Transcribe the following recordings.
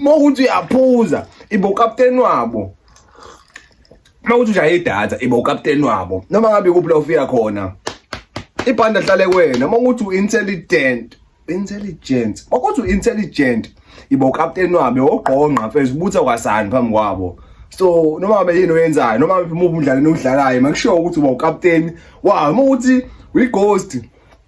uma ukuthi uyaphuza ibe ukapteni wabo uma ukuthi ushaye idatha ibe ukapteni wabo noma ngabe kuphi la ufika khona ibhanda hlale kwena uma ukuthi u-intelligent intelligent uma ukuthi u-intelligent ibe ukapteni wabo wogqongqa mfethu ubutha kwasani phambi kwabo so noma ngabe yini oyenzayo noma ngabe umuphi umdlalo enowudlalayo makushiwo ukuthi uba ukapteni wawo uma ukuthi uyi-ghost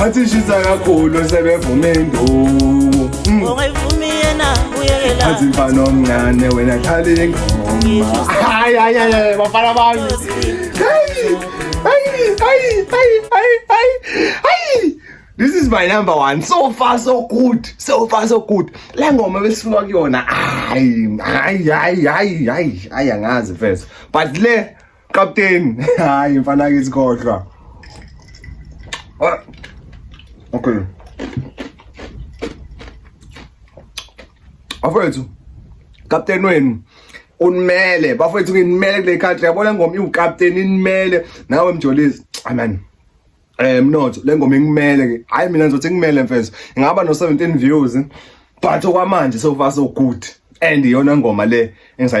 wathi ishisa kakhulu sebevuma induku athi mfana omncane wena khala ingoma hayi hayi hayi bafana bami This is my number one. So far so good. So far so good. Le ngoma besifuna kuyona. Hayi, hayi, hayi, hayi, hayi, hayi angazi first. But le Captain, hayi mfana kithi kodwa. Ah. Okay. Afethu. Captain wenu unimele bafethu nginimele kule country yabona ngoma iwucaptain inimele nawe mjolisi amen eh mnotho le ngoma ingimele ke hayi mina ngizothi ngimele mfethu ngaba no 17 views but okwamanje so far so good and iyona ngoma le engisayi